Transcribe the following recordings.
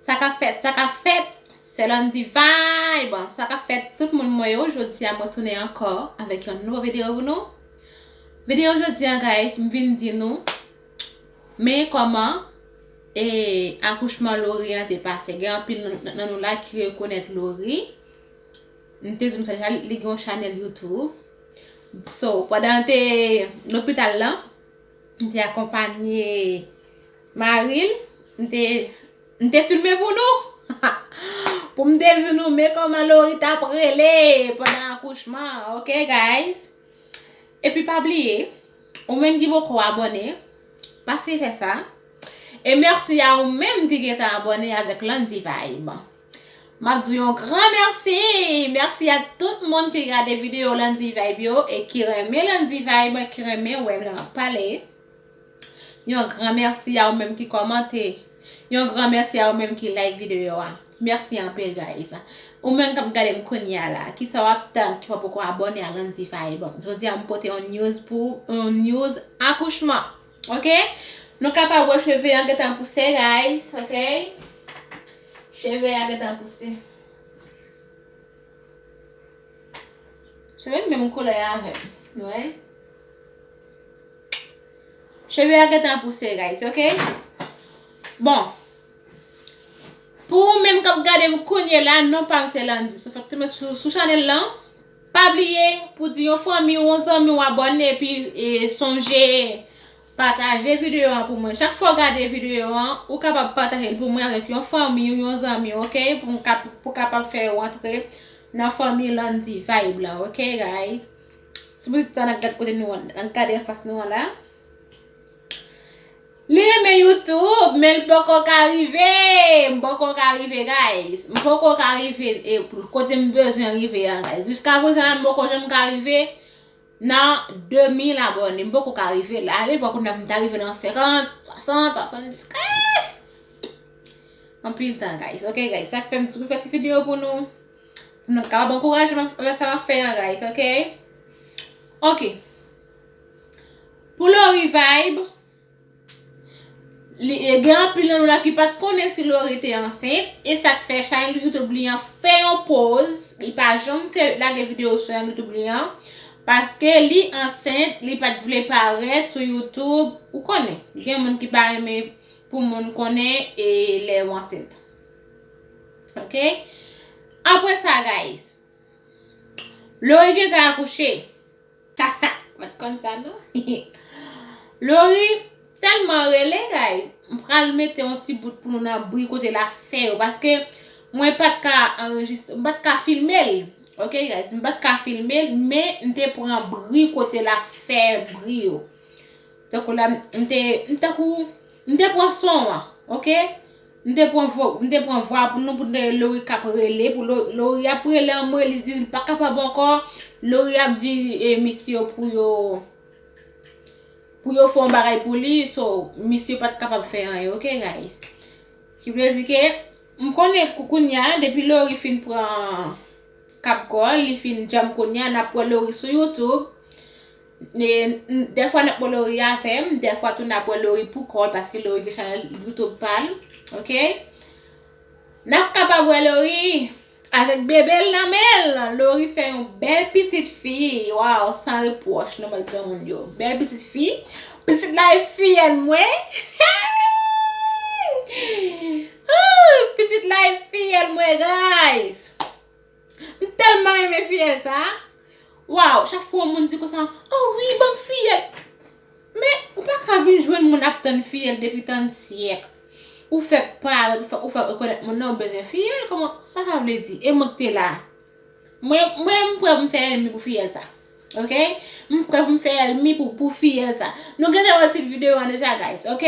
Sa kap fèt, sa kap fèt, sè Landy vibe, sa kap fèt tout moun mwen yo, jodi a mwen tounen ankò avèk yon nouvo video pou nou, video jodi a guys m vin di nou men kòman e akouchman Laurie an te pase, gen anpil nan nou la ki rekonèt Laurie, m te di nou sa deja li gen yon chanèl YouTube, so pandan l te lopital lan. M te akonpanye mari l. M te M te filme pou nou pou m te di nou men kòman Laurie t ap rele pandan akouchman an ok guys. Epi pa bliye ou menm ki poko abone pase fè sa. E mèsi a ou menm ki gentan abone avèk Landy Vibe. Map di w yon gran mèsi! Mèsi a tout moun ki gade video Landy Vibe yo e ki renmen Landy Vibe, ki renmen wè m lè map pale. Yon gran mèsi a ou menm ki kòmante. Yon gran mèsi a ou menm ki like video a. Mèsi anpil guys. Ou menm kap gade m kounya la, kisa wap tann ki pa poko abone a Landy Vibe? Jodi a m pote yon news pou ou, yon news akouchman. Ok Nou kapab wè cheve an gentan pouse guys ok Cheve a gentan pouse Cheve m menm koulè avèm Nou wè Cheve a gentan pouse guys ok Bon Pou ou menm kap gadem kounyela non pam se Landy Sou chanel lan Pa bliye pou di yon fanmi ou yon zanmi ou abòne epi sonje pataje videyo an pou mwen. Chak fwa ou gade videyo an, ou kapab pataje l pou mwen avèk yon fanmi ou yon zanmi ok pou kapab fè yo antre nan fanmi Landy Vibe la ok guys. Ti moun sa nan gad kote nou an nan gade anfas nou an la. Li renmen youtube men li poko ka rive, m poko ka rive guys, m poko ka rive kote m bezwen rive a guys, jiska prezan la m poko janm ka rive nan 2000 abone, m poko ka rive la, alevwa pou nan m ta rive nan 50, 60, 70 eeeeh, anpil tan guys, ok guys, sa k fè m toujou fè ti video pou nou, pou nou kapab ankouraje m avèk sa m ap fè a guys, ok. Pou Lori vibe Gen anpil nan nou la ki pat konnen si Lori te ansent E sak fè chay nou youtube li an fè yon poz Li pa janm fè lage video sou yon youtube li an Paske li ansent li pat vle parèt sou youtube Ou konnen gen moun ki pa renmen pou moun konnen e lè ou ansent Ok Apre sa guys Lori gentan akouche Haha m pat konn sa non Lori telman rele guys m pral mete yon ti bout pou nou nan bri kote lap fè yo paske mwen pat ka anrejistre m pat ka filme l ok guys m pat ka filme l men m te pran bri kote lap fè bri yo tankou la m te tankou m te pran son an ok. M te pran vwa m te pran vwa pou nou pou n te wè Lori k ap rele pou Lo Lori ap rele anmwee li di l pa kapab ankò Lori ap di e misye yo pou yo pou yo fè yon bagay pou li so misye pa t kapab fè anyen ok guys ki vle di ke m konnen kou kounya depi Lori fin pran kab kò l li fin djanm kounya n ap wè Lori sou youtube Dèfwa nap bwè lori avèm Dèfwa tou nap bwè lori pou kòl Paske lori gen chanèl youtube pal Ok Nap kaba bwè lori Avèk bebel nan menl Lori fè yon bèl pitit fi Waw san repwòch nan mòd granmoun yo Bèl pitit fi Pitit la e fiyèl mwen Pitit la e fiyèl mwen guys. M telman renmen fiyèl sa. Waw chak fwa yon moun di konsa oh wi banm fiyèl. Men ou pa ka vin jwenn moun ap tann fiyèl depi tann syèk. Ou fè parèt ou fè rekonèt moun nan ou bezwen fiyèl kòman sa sa vle di e mwen k te la. Mwen m prè pou m fè ènmi pou fiyèl sa. Ok m prè pou m fè ènmi pou fiyèl sa. Nou gentan wè tit videyo an deja guys ok.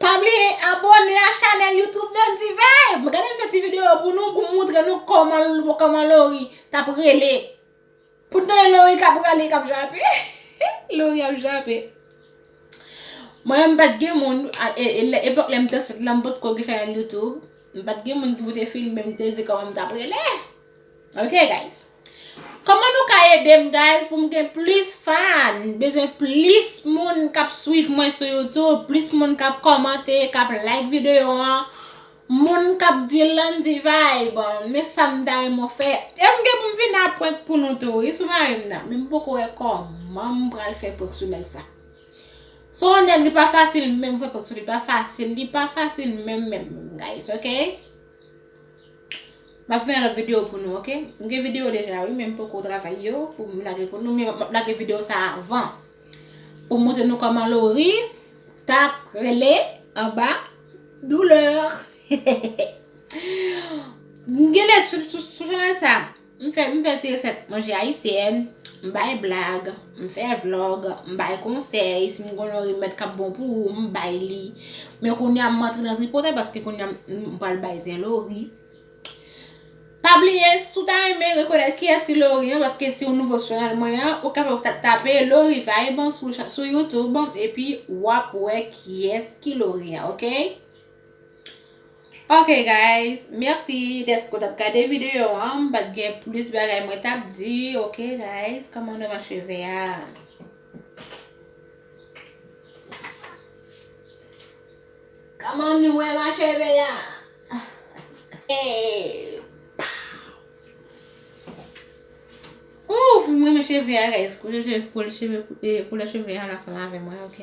Pa bliye abone a chanel YouTube nan Diva. M gade m fè ti video pou nou pou moutre nou koman Laurie tap rele. Pou n tande Laurie kap rale kap jape. Laurie ap jape. Mwen menm m pat gen moun epok lem t ansent lan m potko gen chanel YouTube. M pat gen moun ki pou te filme m te di koman m tap rele. Ok guys Koman nou ka edem guys poum gen plis fan m bezwen plis moun kap swiv mwen sou YouTube plis moun kap komante kap like video an moun kap di Landy vibe men sam ta renmen w fè em gen poum vin a prank pou nou tou wi sou marim nan men m poko wè koman m pral fè prank sou nèg sa se yon nèg li pa fasil menm fè prank sou li pa fasil li pa fasil menm menm guys ok. Map fè yon lòt video pou nou ok. M gen video deja wi men m poko travay yo pou m lage pou nou men map lage video sa avan pou m montre nou koman Lori tap rele anba douleur. M genlè sou chanel sa. M fè m fè ti resèt manje ayisyèn, m bay blag, m fè vlog, m bay konsèy, si m konn yon remèd k ap bon pou ou m bay li. Men kounye a m antre nan tripotay paske kounye a m pral bay zen Lori. Pa bliye si w ta renmen rekonèt kiyès ki Lori an paske si w nouvo sou chanèl mwen an ou kapab tape Lori Vibe sou youtube epi w ap wè kiyès ki Lori an ok. Ok guys, merci deske w tap gade video an, m pat gen plus bagay mwen tap di, ok guys, koman devan cheve a. Koman nou wè ma cheve a. Ouff, m renmen cheve a guys, koulè cheve a ansanm avè mwen ok.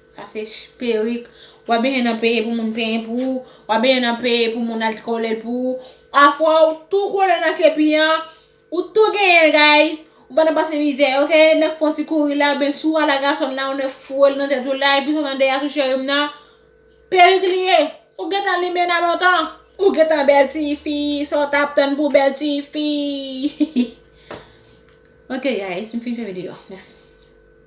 Sa se perik. Wap benyen nan peye pou moun penyen pou ou. Wap benyen nan peye pou moun al kolel pou ou. Afwa ou tou kole nan kepi an. Ou tou genyenl guys. Ou pa nan pase mizè ok. Nèg fon ti kouri la oubyen si ou a la gason la ou nèg fourel nan tèt ou la epi sot andeya tou cherim nan. Perik li ye. Ou gentan limen nan lontan. Ou gentan bel ti fi. Sa ou tap tann pou bel ti fi. Ok guys m fin fè video a. Mèsi.